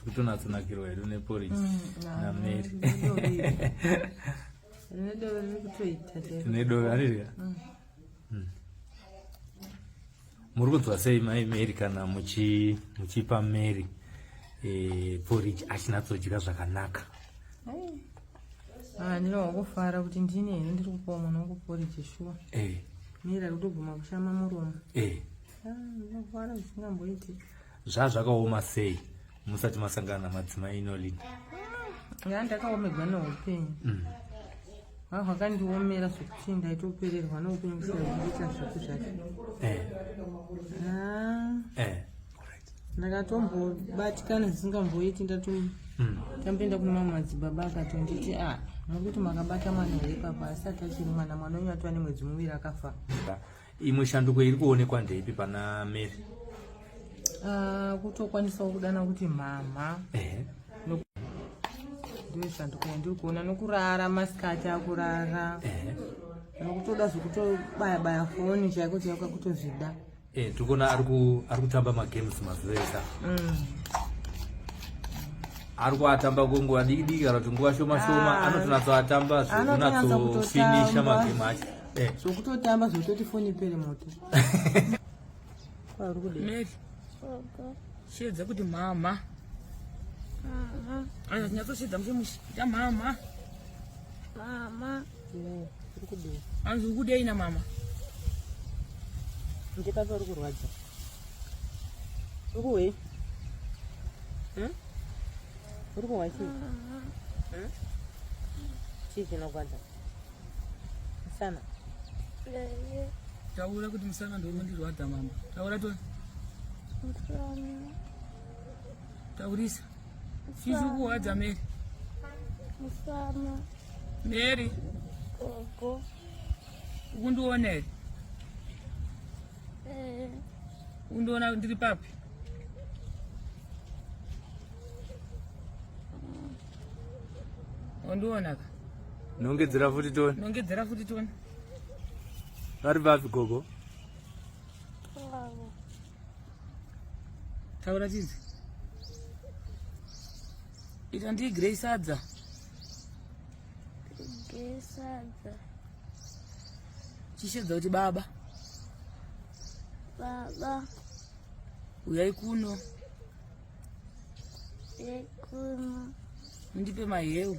kutonatsanakirwa hedu neporisi mm, nameri nedoro arirya mm. mm. muri kunzwa sei mai mary kana muchipa mary eh, poriji achinatsodya zvakanaka Ah, ndine wakufara kuti ndine here ndiri kupawa mwana wangu poriji shuwa eh. mira kutoguma kushama muromo eh. ah, ndinofara zvisingamboiti zva zvakaoma sei musati masangana namadzimai inolin ya ndakaomegwa neupenyu mm. ha hwakandiomera zvekuti ndaitopererwa neupenyu kusaita zvaku zvake eh. ah. ndakatombobatikana zvisingamboiti ndatomboenda hmm. kunema madzibaba akatonditi a ah, nokuti makabata mwana here papa asati achiri mwana mwana wenyu atova nemwedzi muviri akafa imwe shanduko iri kuonekwa ndeipi pana mary ah, kutokwanisawo kudana kuti mhamha ndiyo shanduko yandiri kuona nokurara masikati akurara nokutoda zvekutobaya baya foni chaiko chaiko kutozvida Eh, tikuona ari kutamba magames mazuva ese mm. ari kuatamba kwenguva diki diki kana kuti nguva shoma shoma ah. anotonatsoatamba zvekunatsofinisha magame acho eh. zvokutotamba zvototi foni pere moto shedza kuti mama ah, ah. anyatsosheedza muchimushita mama mama hanzi ukudei na mama ndipapa uri kurwadza ukuwe hm? uri kuhwa chii hm? chii chinogwadza musana taura kuti musana ndoukundirwadza mama taura to taurisa Chii chiri kurwadza Mary? Musana. Mary. Gogo. Ukundiona here? Eh. Ukundiona ndiri papi? Wandiona ka? Nongedzera futi toni. Nongedzera futi toni. Vari papi gogo? taura chizi ita ndii grey sadza grey sadza chishedza kuti baba baba uyai kuno uyai kuno mundipe mahewu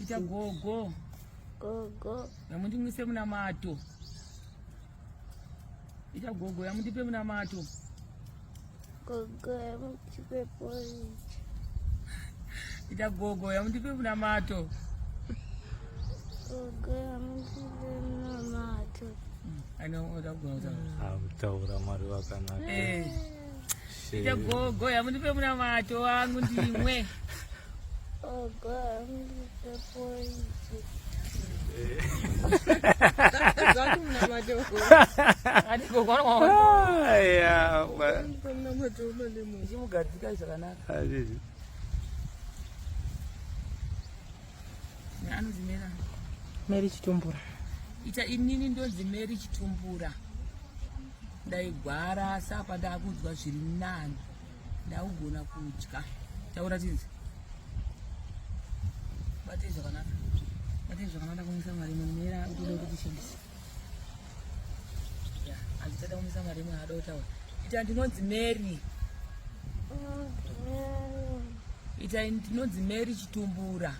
Ita gogo. Gogo. Yamundimwise munamato. Ita gogo yamundipe munamato. Gogo yamundipe porridge. Ita gogo yamundipe munamato. Gogo yamundipe munamato. Ano, utaura mwari wakanaka. Eh. Ita gogo yamundipe munamato wangu ndimwe. Gogo yamundipe pointi. Chimugadzika zvakanaka. Anonzi Mera. Meri Chitumbura. Ita inini ndonzi Meri Chitumbura. ndaigwara asi apa ndakunzwa zviri nani ndakugona kudya taura tinzi batei zvakanaka batei zvakanaka ndakumisa mari imwe mera utoda kuti tishandise andichada kumisa mari imwe ada kutaura ita ndinonzi mary ita ndinonzi mary chitumbura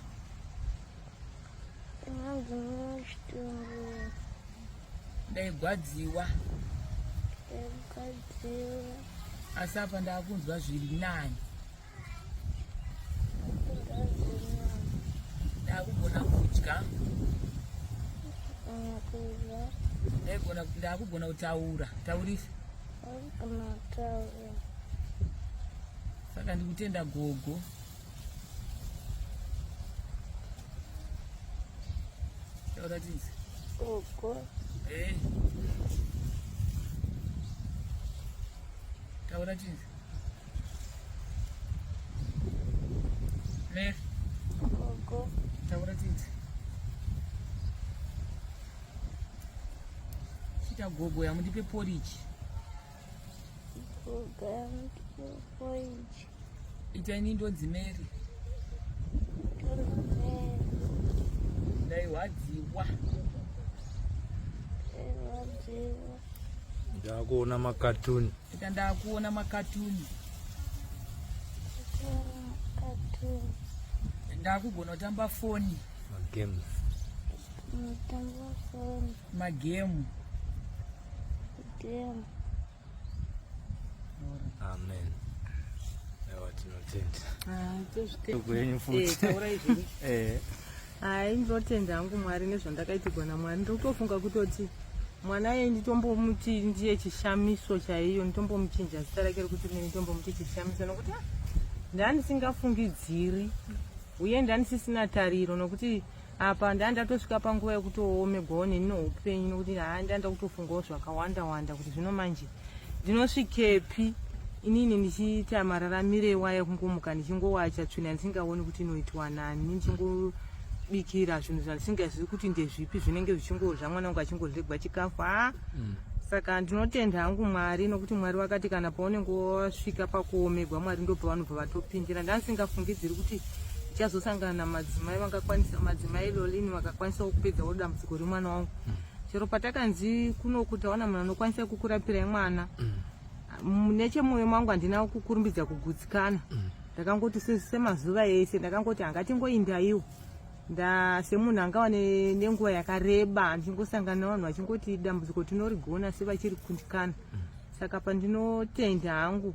ndinonzi mary chitumbura ndaigwadziwa asi apa ndakunzwa zviri nani ndakugona kudya ndaigona ndakugona kutaura taurisa saka ndikutenda gogo Gogo. Eh. Taura chinzi. Ne. Gogo. Taura chinzi. Chita gogo yamudipe porridge. Gogo yamudipe porridge. Ita ini ndonzi Mary. Ndairwadziwa. Ndairwadziwa. Ndakuona makatuni. Ita ndakuona makatuni. Ndakugona kutamba foni. Magames. Ndakutamba foni. Magemu. Magemu. Amen. Ewa tinotenda. Ah, tozvitenda. Kwenyu futi. Eh, taurai zvenyu. Eh. Hayi ndinotenda hangu Mwari nezvandakaitirwa naMwari. Ndiri kutofunga kutoti mwana ye nditombomuti ndiye chishamiso chaiyo nditombomuchinja zita rake rekuti mene nditombomuti chishamiso nokuti ah, ndandisingafungidziri uye ndanisisina tariro nokuti apa ndanga ndatosvika panguva yekutoomerwawo nenino upenyu nokuti haa ndanga ndakutofungawo zvakawanda wanda kuti zvino manje ndinosvikepi inini ndichiita mararamiro iwaya ekungomuka ndichingowacha tsvina ndisingaoni kuti inoitwa nani ndichingobikira zvinhu zvandisingazivi kuti ndezvipi zvinenge zvichingodla mwana wangu achingodlegwa chikafu haa mm. saka ndinotenda hangu mwari nokuti mwari vakati kana paunenge wasvika pakuomegwa mwari ndopavanobva vatopindira ndandisingafungidziri kuti tichazosangana namadzimai vakakwanisa madzimai lolini vakakwanisawo kupedzawo dambudziko remwana wangu mm. chero patakanzi kunoku taona munhu anokwanisa kukurapirai mwana mm. nechemwoyo mangu handina kukurumbidza kugutsikana mm. ndakangoti semazuva ese ndakangoti hangatingoindaiwo semunhu angava nenguva yakareba ndichingosangana navanhu vachingoti dambudziko tinorigona sevachiri kundikana saka pandinotenda hangu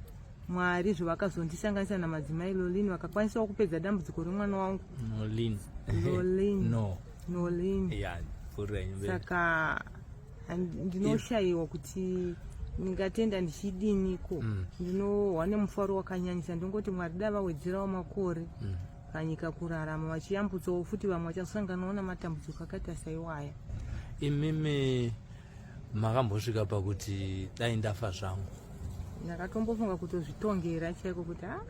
Mwari zvavakazondisanganisa namadzimai Lolin vakakwanisawo kupedza dambudziko remwana wangu Nolin. Lolin. no. Nolin. Yeah, pfuurira henyu mberi. Saka and- ndinoshayiwa kuti ndingatenda ndichidiniko Mm. ndinohwa nemufaro wakanyanyisa ndongoti mwari dai vawedzerawo makore Mm. panyika kurarama vachiyambutsawo futi vamwe vachasanganawo namatambudziko akaita saiwaya Imimi makambosvika pakuti dai ndafa zvangu ndakatombofunga kutozvitongera chaiko kuti a ah,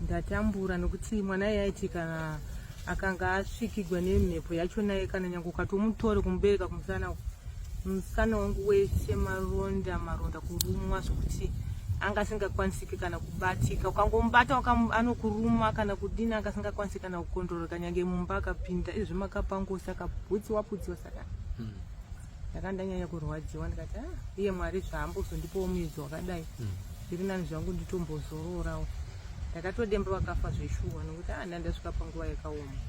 ndatambura nokuti mwana iye aiti kana akanga asvikigwa nemhepo yacho naye kana nyange ukatomutore kumubereka kumusana musana wangu wese maronda maronda kurumwa zvokuti anga asingakwanisiki kana kubatika ukangomubata anokuruma kana kudini anga asingakwanisi kana kukondororeka nyange mumba akapinda izvi makapangosa kabhutsi waputsiwa saka hmm. ndakandanyanya kurwadziwa ndikati ah, iye mwari zvaambozondipawo muedzo wakadai hmm. zviri nani zvangu nditombozororawo ndakatodemba vakafa zveshuwa nokuti ah, andandasvika panguva yakaoma